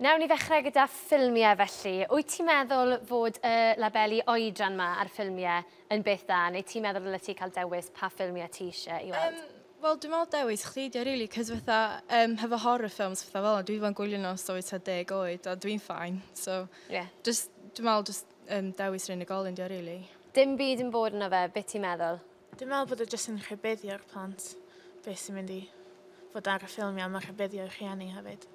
Newn ni ddechrau gyda ffilmiau felly. Wyt ti'n meddwl fod y labeli oedran ma ar ffilmiau yn beth da, neu ti'n meddwl ddylet ti cael dewis pa ffilmiau ti eisiau i weld? Um, Wel, dwi'n meddwl dewis chdi ydi o rili, cos fatha, um, hefo horror films fatha fel 'na, dwi 'di bod yn gwylio nhw ers oed tua deg oed, a dwi'n ffain. So, yeah. just, dwi'n meddwl just, um, dewis yr unigolyn 'di o rili. Dim byd yn bod yno fe, beth ti'n meddwl? Dwi'n meddwl bod o jyst yn rhybuddio'r plant beth sy'n mynd i fod ar y ffilmiau, mae rhybuddio'r rhieni hefyd.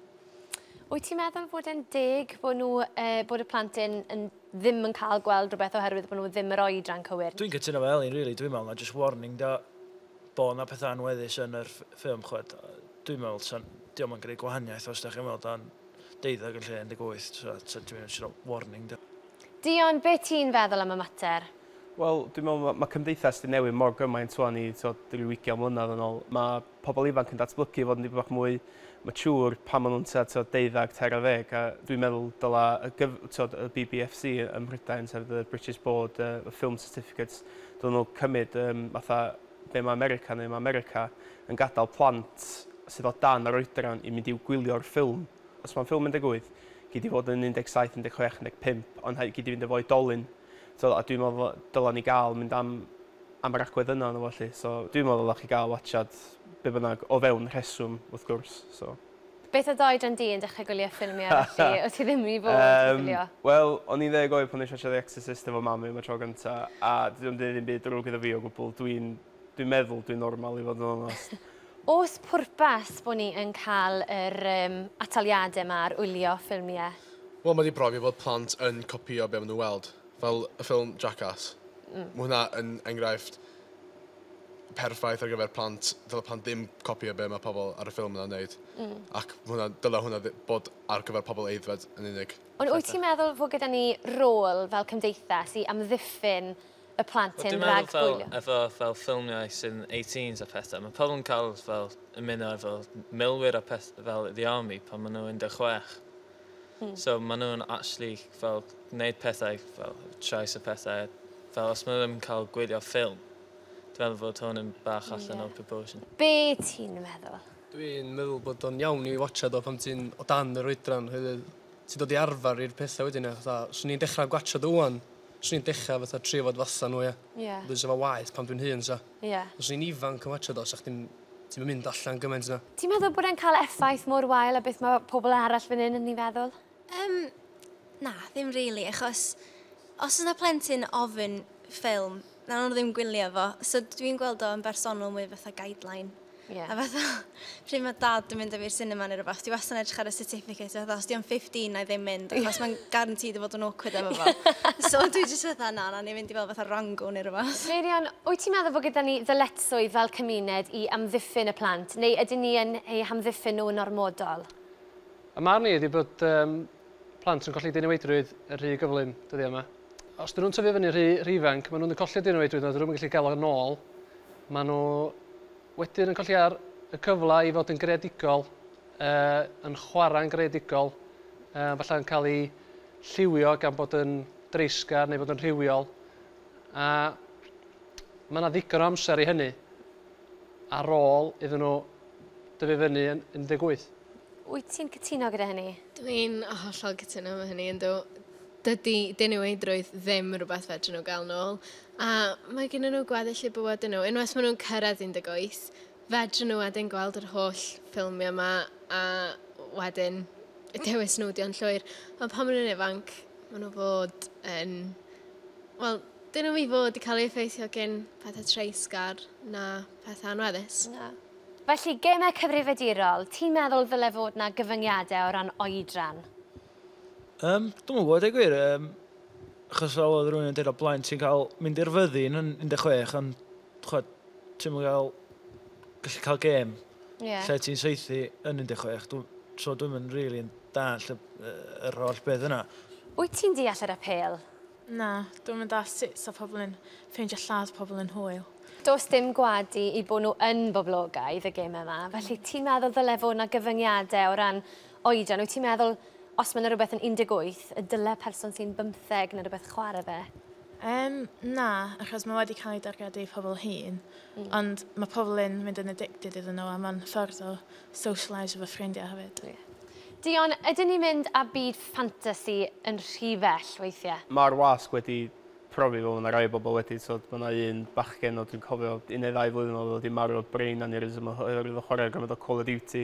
Wyt ti'n meddwl fod e'n deg bod, nhw, e, bod y plant yn, yn ddim yn cael gweld rhywbeth oherwydd bod nhw ddim yr oedran cywir? Dwi'n cytuno fel Elin, really, dwi'n meddwl na just warning da bod na pethau anweddus yn yr ffilm, chwed. Dwi'n meddwl, ta, diolch yn gwneud gwahaniaeth os da chi'n meddwl dan deuddeg yn lle 18, ta, ta dwi'n meddwl warning da. Dion, beth ti'n feddwl am y mater? Wel, dwi'n meddwl ma' ma' cymdeithas 'di newid mor gymaint ŵan i, t'wod, ryw ugian mlynedd yn ôl. Ma' pobl ifanc yn datblygu i fod yn dipyn bach mwy mature pan ma' nhw'n tua, t'wod, deuddag, tair ar ddeg, a dwi'n meddwl dyla y gyf-, t'wod, y BBFC ym Mhrydain, sef the British Board of Film Certificates, dylen nhw cymryd yym fatha be' ma' America'n neud, ma' America yn gadal plant sydd o dan yr oedran i mynd i'w gwylio'r ffilm, os ma'n ffilm un deg wyth, gei di fod yn un deg saith, un deg chwech, un deg pump, ond rhaid gei di fynd efo oedolyn. T'od a dwi'n me'wl fo- dyla ni ga'l mynd am am yr agwedd yna ynddo fo 'lly so dwi'n me'wl ddyla chi ga'l watsiad be' bynnag o fewn rheswm wrth gwrs so. Beth oedd dy oedran di yn dechre gwylio ffilmiau felly o' ti ddim i fod yn gwylio? Yym wel o'n i'n ddeg oed pan nesh i watsio The Exorcist efo mam fi am y tro gynta a dydi o'm deud ddim byd drwg iddo fi o gwbwl dwi'n Dwi'n meddwl dwi'n normal i fod yn onest. Oes pwrpas bod ni yn cael yr um, ataliadau yma ar wylio ffilmiau? Wel, mae wedi profi bod plant yn copïo be maen nhw'n weld, fel y ffilm Jackass. Mm. Mae hwnna yn enghraifft perffaith ar gyfer plant, dyle plant ddim copïo be mae pobl ar y ffilm yna'n wneud. Mm. Ac hwnna, dyle hwnna bod ar gyfer pobl eiddfed yn unig. Ond wyt ti'n meddwl fod gyda ni rôl fel cymdeithas i amddiffyn y plant hyn rhag gwylio. Dwi'n meddwl fel, efo fel ffilmiau sy'n 18s a pethau, mae pobl yn cael fel ymuno efo milwyr a peth fel the army pan maen nhw 16. Hmm. So maen nhw'n actually fel gwneud pethau fel trais a pethau. Fel os maen nhw ddim yn cael gwylio ffilm, dwi'n meddwl fod hwn yn bach allan yeah. o proportion. Be ti'n meddwl? Dwi'n meddwl bod o'n iawn i watcha do pan ti'n o dan yr oedran, hefyd ti'n dod i arfer i'r pethau wedyn. Swn i'n dechrau gwatcha do wan, Swn i'n dechra fatha trio fod fatha nhw ia. Ia. Wedyn sa fo'n waeth pan dwi'n hŷn sa. Ia. Os o'n i'n ifanc yn watsio do sa chdi'm ti'm yn mynd allan gymaint na. Ti'n meddwl bod e'n cael effaith mor wael â beth mae pobl arall fan hyn yn ei feddwl? Yym na ddim rili achos os oes 'na plentyn ofyn ffilm wnawn nhw ddim gwylio fo so dwi'n gweld o yn bersonol mwy fatha guideline. Yeah. A fatha, pryd mae dad yn mynd â fi'r cinema neu rhywbeth, dwi wastad yn edrych ar y certificate, a fatha, os di'n 15 na i ddim mynd, achos mae'n garantid i fod yn awkward efo fo. so dwi jyst fatha, na, na, ni'n mynd i fel fatha rango neu rhywbeth. Meirion, wyt ti'n meddwl fod gyda ni ddyletswydd fel cymuned i amddiffyn y plant, neu ydyn ni yn eu hamddiffyn nhw yn ormodol? Y marn i ydi bod um, plant yn colli diniweidrwydd yn rhy gyflym dyddiau yma. os dyn nhw'n tyfu fyny rhy, rhy ifanc, maen nhw'n colli dyn nhw oedwyd, dyn nhw'n gallu gael o'n ôl. Maen nhw wedyn yn colli ar y cyfle i fod yn greadigol, uh, yn chwarae'n greadigol, uh, falle yn cael ei lliwio gan bod yn dreisgar neu bod yn rhywiol. A mae yna ddigon o amser i hynny ar ôl iddyn nhw dyfu fyny yn 18. Wyt ti'n cytuno gyda hynny? Dwi'n hollol cytuno efo hynny, ynddo. Dydy diniweidrwydd ddim rhywbeth fedrwn nhw gael nôl, a mae gennyn nhw gweddill eu bywydau nhw. Unwaith maen nhw'n cyrraedd 18, fedrwn nhw wedyn gweld yr holl ffilmiau yma a wedyn dewis nhw ydy o'n llwyr. Ond pan maen nhw'n ifanc, maen nhw fod yn... Wel, dyn nhw i fod i cael ei effeithio gen pethau treisgar na pethau anweddus. Na. Felly, gemau cyfrifiadurol, ti'n meddwl ddyle fod na gyfyngiadau o ran oedran? Yym, dwi'm yn gwybod dweud y gwir, yym, achos fel oedd rhywun yn dweud o blaen, ti'n cael mynd i'r fyddin yn 16, ond chwed, ti'n mynd cael gallu cael gêm yeah. lle ti'n saethu yn 16. Dwi, so dwi'n mynd rili yn dall y, yr holl beth yna. Wyt ti'n deall yr apel? Na, dwi'n mynd all sut sa pobl yn ffeindio lladd pobl yn hwyl. Does dim gwadu i bod nhw yn boblogaidd y gêm yma, felly ti'n meddwl ddyle fod yna gyfyngiadau o ran Oedran, wyt ti'n meddwl os mae yna rhywbeth yn 18 y dyle person sy'n bymtheg neu rhywbeth chwarae fe? Um, na, achos mae wedi cael ei dargedu i pobl hun, mm. ond mae pobl yn mynd yn addicted iddyn nhw a mae'n ffordd o socialise efo ffrindiau hefyd. Yeah. Dion, ydyn ni'n mynd â byd ffantasi yn rhy fell weithiau? Mae'r wasg wedi profi fel yna rai bobl wedi, so mae yna un bachgen o dwi'n cofio un neu ddau flwyddyn oedd wedi marw o brain aneurysm oherwydd o chwarae gymaint o Call of Duty.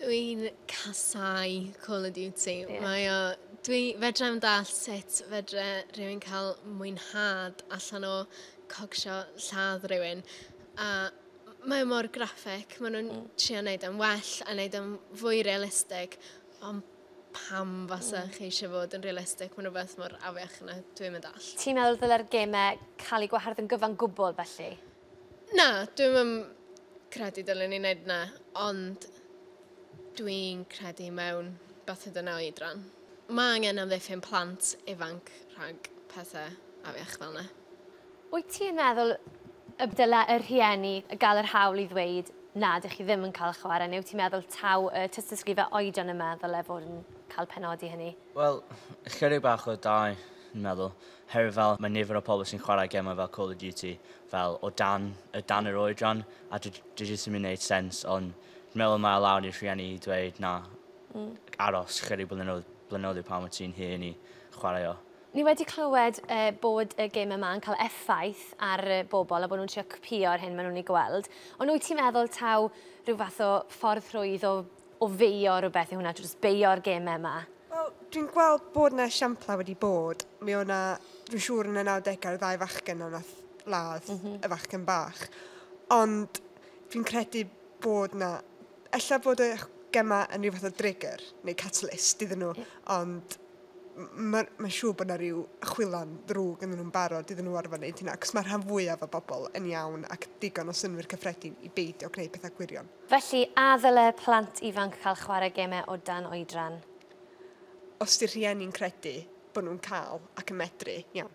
Dwi'n casau Call of Duty. Yeah. Mae o... Dwi fedra i'm dall sut fedra rhywun cael mwynhad allan o cogsio lladd rhywun. A mae o mor graphic, maen nhw'n mm. trio wneud yn well a wneud yn fwy realistig, ond pam fasa mm. chi eisiau fod yn realistig, mae'n rhywbeth mor afiach yna, dwi'n mynd all. Ti'n meddwl ddyle'r gemau cael ei gwahardd yn gyfan gwbl felly? Na, dwi'm yn credu dylen ni wneud 'na, ond dwi'n credu mewn bathu dyna oedran. Mae angen amddiffyn plant ifanc rhag pethe afiach fel 'na. Wyt ti yn meddwl y dylai y rhieni gael yr hawl i ddweud 'na, dych chi ddim yn cael chwarae', neu wyt ti'n meddwl taw y tystysgrifau oedran yma ddylai fod yn cael penodi hynny? Wel, ychydig bach o dau, dwi'n meddwl. Herwydd fel mae nifer o pobl sy'n chwarae gemau fel Call of Duty fel o dan y dan yr oedran a dwi dwi jyst ddim yn neud sense ond dwi'n meddwl mae o lawr i'r rhieni i dweud na aros chydig blynyddoedd blynyddoedd i pan wyt ti'n hŷn i chwarae o. Ni wedi clywed yy bod y gêm yma yn cael effaith ar yy bobl a bod nhw'n trio cpïo'r hyn maen nhw'n ei gweld ond wyt ti'n meddwl taw rhyw fath o ffordd rhwydd o o beio rhywbeth yw hwnna, jyst beio'r gemau yma? Wel, dwi'n gweld bod yna esiamplau wedi bod. Mi o na, dwi'n siŵr yn y 90au, ddau fachgen yna nath ladd mm -hmm. y fachgen bach. Ond dwi'n credu bod yna, ella bod y gemau yn rhywbeth o drigger neu catalyst iddyn nhw, yeah. ond mae'n ma siŵr bod yna rhyw chwilan ddrwg yn nhw'n barod iddyn nhw orfod wneud hynna, ac mae rhan fwyaf o bobl yn iawn ac digon o synwyr cyffredin i beidio gwneud pethau gwirion. Felly, a ddyle plant ifanc cael chwarae gemau o dan oedran? Os di'r rhieni'n credu bod nhw'n cael ac yn medru, iawn.